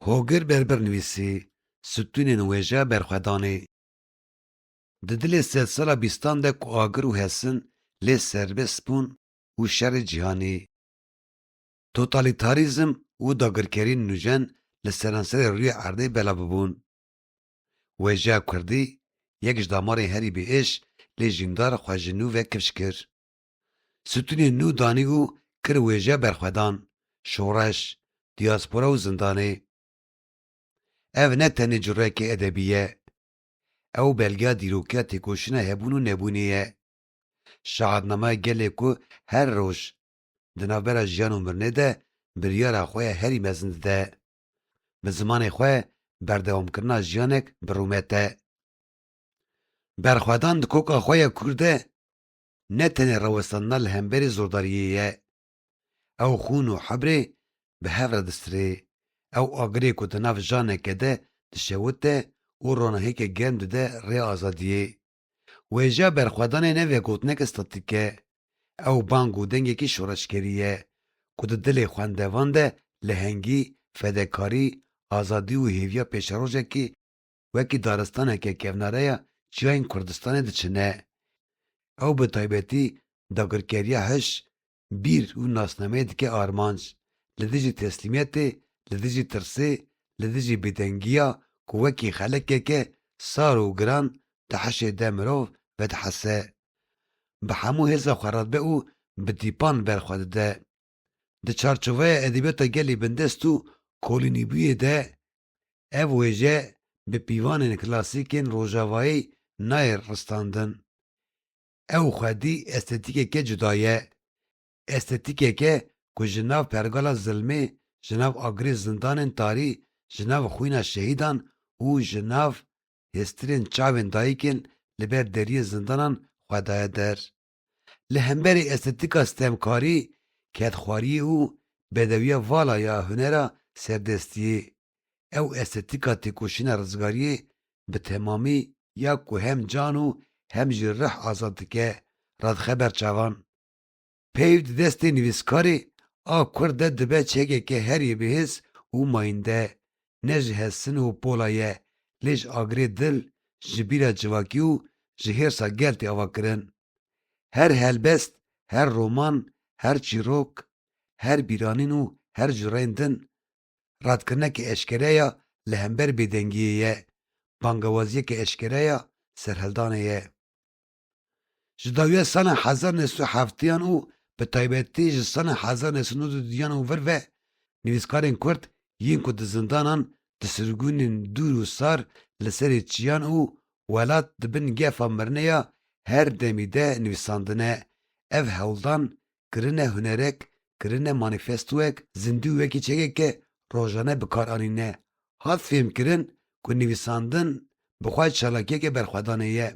Hogir Berber nivîsî, Stûnên wêje berxwedanê. Di dilê sedsala bîstan de ku agir û hesin lê serbest bûn û şerê cîhanî, totalîtarîzm û dagirkerî nûjen li seranserê rûyê erdê bela bibûn. Wêjeya kurdî, yek ji damarên herî bêêş lê jîndar xwe ji nû ve kifş kir. Stûnên nû danî û kir wêje berxwedan, şoreş, dîaspora û zindanê. Ev ne tenê cureyekê edebî ye. Ew belgeya dîrokiya têkoşîna hebûn û nebûnê ye. Şahatnamaya gelê ku her roj di navbera jiyan û mirinê de biryara xwe ya herî mezin dide. Bi zimanê xwe berdewamkirina jiyanek bi rûmet e. Berxwedan di koka xwe ya kûr de ne tenê rawestandina li hemberî zordariyê ye. Ew xûn û hebrê bi hev re distirê. Ew agirê ku di nav janeke de dişewite û ronahêke germ dide rê azadiyê. Wêjeya berxwedanê ne vegotineke statîk e. Ew bang û dengekî şoreşgerî ye ku di dilê xwendevan de lehengî, fedekarî, azadî û hêviya pêşerojekî, wekî daristaneke kevnareya çiyayên Kurdistanê diçine. Ew bi taybetî dagirkeriya hiş, bîr û nasnameyê dike armanc, li dijî teslîmiyetê, li dijî tirsê, li dijî bêdengiya ku wekî xelekeke sar û giran di hişê de mirov vedihese. Bi hemû hêza xwe re dibe û bi tîpan ber xwe dide. Di çarçoveya edebiyata gelê bindest û kolînîbûyê de Ev wêje bi pîvanên klasîkên rojavayî nayê ristandin. Ew xwedî estetîkeke cuda ye. Estetîkeke ku ji nav pergala zilmê, ji nav agirê zindanên tarî, ji nav xwîna şehîdan û ji nav hêstirên çavên dayikên li ber deriyê zindanan xwe daye der. Li hemberî estetîka stemkarî, kedxwariyê û bedewiya vala ya hunera serdestiyê, ew estetîka têkoşîna rizgariyê bi temamî ya ku hem can û hem jî rih azad dike, radixeber çavan. Peyv di destê nivîskarê a Kurd de dibe çekeke herî bihêz û mayînde, ne ji hestin û pola ye, lê ji agirê dil, ji bîra civakî û ji hêrsa gel tê ava kirin. Her helbest, her roman, her çîrok, her bîranîn û her cureyên din, radkirineke eşkere ya li hember bêdengiyê ye, bangewaziyeke eşkere ya serhildanê ye. Ji dawiya sala hezar neh sed û heftiyan û bi taybetî ji sala hezar neh sed û nod û duyan û vir ve nivîskarên Kurd yên ku di zindanan, di sirgûnên dûr û sar, li serê çiyan û welat di bin gefa mirine ya her demî de nivîsandine. Ev hewldan kirine hunerek, kirine manîfestoyek zindû wekî çekeke rojane bikaranîne. Hat fêhmkirin ku nivîsandin bi xwe çalakiyeke berxwedanê ye.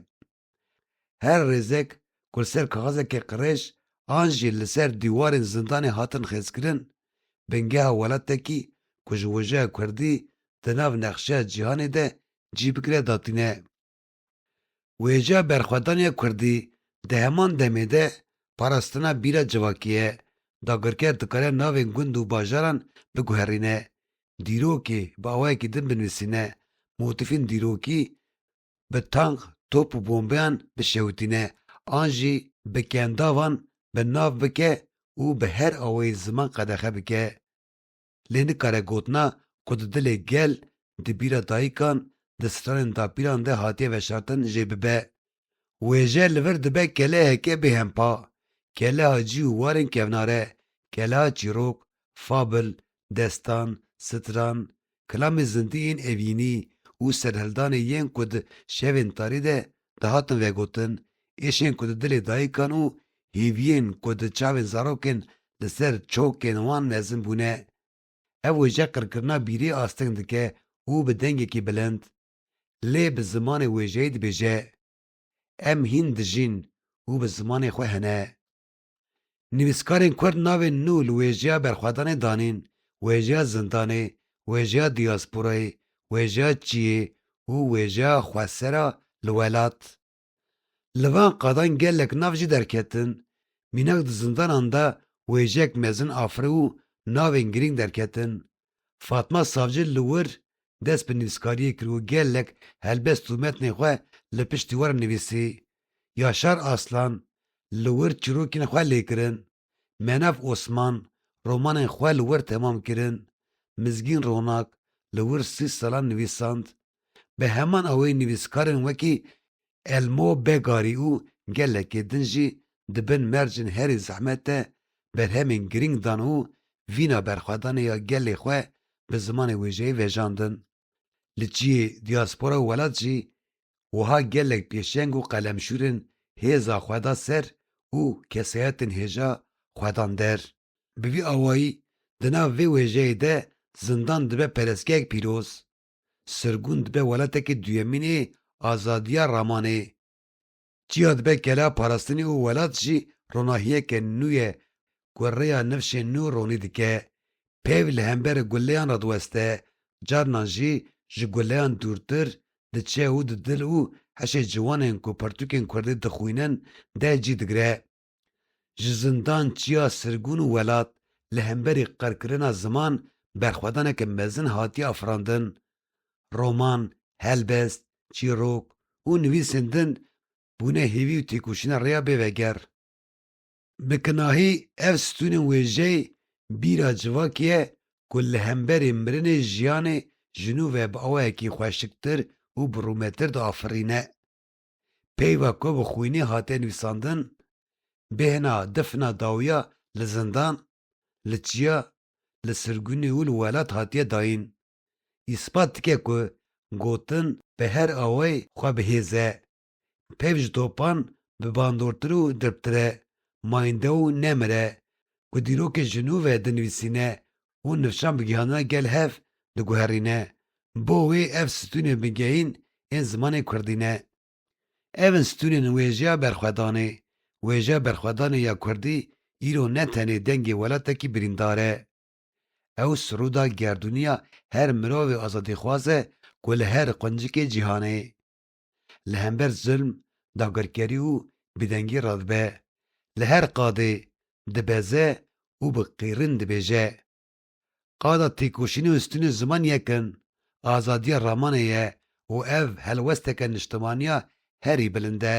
Her rêzek ku li ser kaxizeke qirêj an jî li ser dîwarên zindanê hatin xêzkirin, bingeha welatekî ku ji wijeya kurdî di nav nexşeya cîhanê de cî bigire datîne. Wêjeya berxwedaniya kurdî di heman demê de parastina bîra civakî ye, dagirker dikare navên gund û bajaran biguherîne, dîrokê bi awayekî din binivîsîne, motîfên dîrokî bi tank, top û bombeyan bişewitîne an jî bi kendavan bi nav bike û bi her awayî ziman qedexe bike. lê nikare gotina ku di dilê gel, di bîra dayikan, di stranên dapîran de hatiye veşartin jê bibe. Wêje li vir dibe keleheke bêhempa, keleha cî û warên kevnare, keleha çîrok, fabl, destan, stran, kilamê zindî ên evînî û serhildanê yên ku di şevên tarî de dihatin vegotin, êşên ku di dilê dayikan û hêviyên ku di çavên zarokên li ser çokên wan mezin bûne. Ev wêje qirkirina bîrê asteng dike û bi dengekî bilind lê bi zimanê wêjeyê dibêje, Em hîn dijîn û bi zimanê xwe hene. Nivîskarên Kurd navên nû li wêjeya berxwedanê danîn, wêjeya zindanê, wêjeya diyasporayê, wêjeya çiyê û wêjeya xwesera li welat. Li van qadan gelek nav jî derketin. Mînak di zindanan de wêjeyek mezin afiribû navên girîng derketin. Fatma Savcı li wir dest bi nivîskariyê kir û gelek helbest û metnên xwe li piştî wan re nivîsî. Yaşar Aslan li wir çirokên xwe lê kirin. Menav Osman romanên xwe li wir temam kirin. Mizgîn Ronak li wir sih salan nivîsand. Bi heman awayî nivîskarên wekî Elmo Begarî û gelekê din jî di bin mercên herî zehmet de berhemên girîng dan û vîna berxwedanê ya gelê xwe bi zimanê wêjeyê vejandin. Li çiyê dîaspora û welat jî wiha gelek pêşeng û qelemşûrên hêza xwe da ser û kesayetên hêja xwe dan der. Bi vî awayî di nav vê wêjeyê de zindan dibe perestgehek pîroz. Sirgûn dibe welatekî duyemînê azadiya ramanê. Çiya dibe kela parastinê û welat jî ronahiyeke nû ye ku rêya nifşên nû ronî dike. Peyv li hember guleyan re diweste, carinan jî ji guleyan dûrtir diçe û di dil û heşê ciwanên ku pirtûkên kurdî dixwînin de cî digire. Ji zindan çiya sirgûn û welat li hemberî qirkirina ziman berxwedaneke mezin hatiye afirandin. Roman, helbest, çîrok û nivîsên din bûne hêvî û têkoşîna rêya bê veger. Bi kinahî ev stûnên wêjeyê bîra civakê ye ku li hemberî mirinê jiyanê ji nû ve bi awayekî xweşiktir û bi rûmetir diafirîne. Peyva ku bi xwînê hate nivîsandin, bêhna difna dawiya li zindan, li çiya, li sirgûnê û li welat hatiye dayîn, îspat dike ku gotin bi her awayê xwe bi hêz e. Peyv ji topan bi bandortir û dirptir e, mayinde û nemir e, ku dîrokê ji nû ve dinivîsîne û nifşan bigihana gel hev diguherîne, bo wê ev stûnên bingehîn ên zimanê kurdî ne. Ev in stûnên wêjeya berxwedanê. Wêjeya berxwedanê ya kurdî îro ne tenê dengê welatekî birîndar e. Ew siroda gerdûnî ya her mirovê azadîxwaz e ku li her quncikê cîhanê, li hember zulm, dagirkerî û bêdengî re dibe, li her qadê dibeze û bi qîrîn dibêje, Qada têkoşînê û sitînê ziman yek in, azadiya ramanê ye û ev helwesteke niştimaniya herî bilind e.